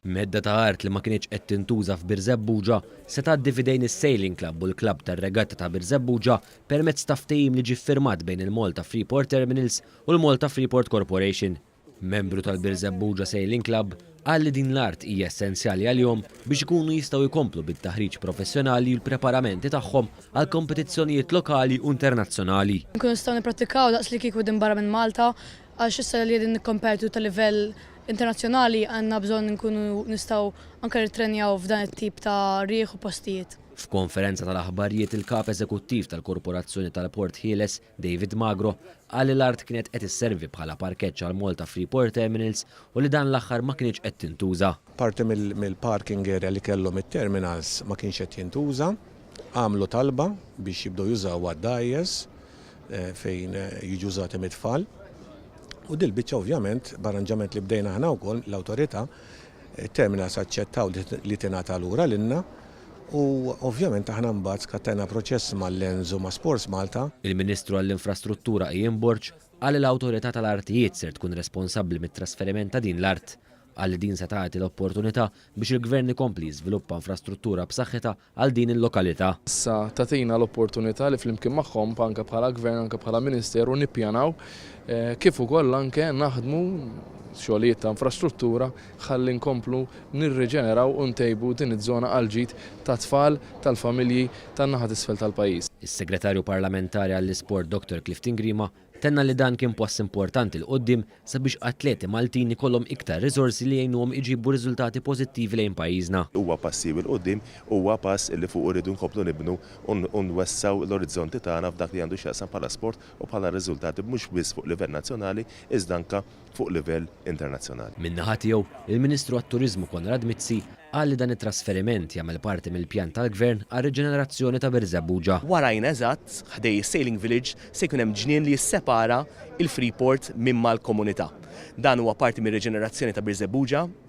Medda ta' art li ma kinitx qed tintuża f'Birżebbuġa se tgħaddi f'idejn is-Sailing Club u l-Klabb tar-Regatta ta' Birżebbuġa permezz ta' ftehim li ġie ffirmat bejn il-Malta Freeport Terminals u l-Malta Freeport Corporation. Membru tal-Birżebbuġa Sailing Club, Qal li din l-art hija essenzjali għalihom biex ikunu jistgħu jkomplu bit-taħriġ professjonali u l-preparamenti tagħhom għal kompetizzjonijiet lokali u internazzjonali. Inkunu nistgħu nipprattikaw daqs li kieku qegħdin barra minn Malta għax issa li qegħdin nikkompetu ta' livell internazzjonali għandna bżonn inkunu nistgħu anke nittrenjaw f'dan it-tip ta' riħ u postijiet. F'konferenza tal-aħbarijiet il-Kap Eżekuttiv tal-Korporazzjoni tal-Port Ħieles, David Magro qal li l-art kienet qed isservi bħala parkeġġ għal Malta Freeport Terminals u li dan l-aħħar ma kinitx qed tintuża. Parti mill-parking area li kellhom it-terminals ma kienx qed jintuża. Għamlu talba biex jibdew jużawha d-dgħajjes fejn jiġu użati mit-tfal. U dil-biċċa ovvjament, b'arranġament li bdejna aħna wkoll, l-Awtorità, it-terminals aċċettaw li tingħata lura lilna. u ovvjament aħna mbagħad skattajna proċess ma' Lens u ma' Sports Malta. Il-Ministru għall-Infrastruttura Ian Borg qal li l-Awtorità tal-Artijiet ser tkun responsabbli mit-trasferiment ta' din l-art. Qal li din se tagħti l-opportunità biex il-Gvern ikompli jiżviluppa infrastruttura b'saħħitha għal din il-lokalità. Issa tagħtina l-opportunità li flimkien magħhom anke bħala Gvern, anke bħala Ministeru nippjanaw kif ukoll anke naħdmu xogħlijiet ta' infrastruttura ħalli nkomplu nirriġeneraw u ntejbu din iż-żona għall-ġid tat-tfal, tal-familji tan-naħa t'isfel tal-pajjiż. Is-Segretarju Parlamentari għall-Isport Dottor Clifton Grima tenna li dan kien pass importanti 'l quddiem sabiex atleti Maltin ikollhom iktar riżorsi li jgħinuhom iġibu riżultati pożittivi lejn pajjiżna. Huwa pass siewi 'l quddiem, huwa pass li fuqu rridu nkomplu nibnu u nwessgħu l-orizzonti tagħna f'dak li għandu x'jaqsam bħala sport u bħala riżultati mhux biss fuq livell nazzjonali iżda anke fuq livell internazzjonali. Min-naħa tiegħu, il-Ministru għat-Turiżmu Konrad Mizzi qal li dan it-trasferiment jagħmel parti mill-pjan tal-Gvern għar-riġenerazzjoni ta' Birżebbuġa. Warajna eżatt, ħdejn is-Sailing Village, se jkun hemm ġnien li jissepara l-Freeport minn mal-komunità. Dan huwa parti mir-riġenerazzjoni ta' Birżebbuġa.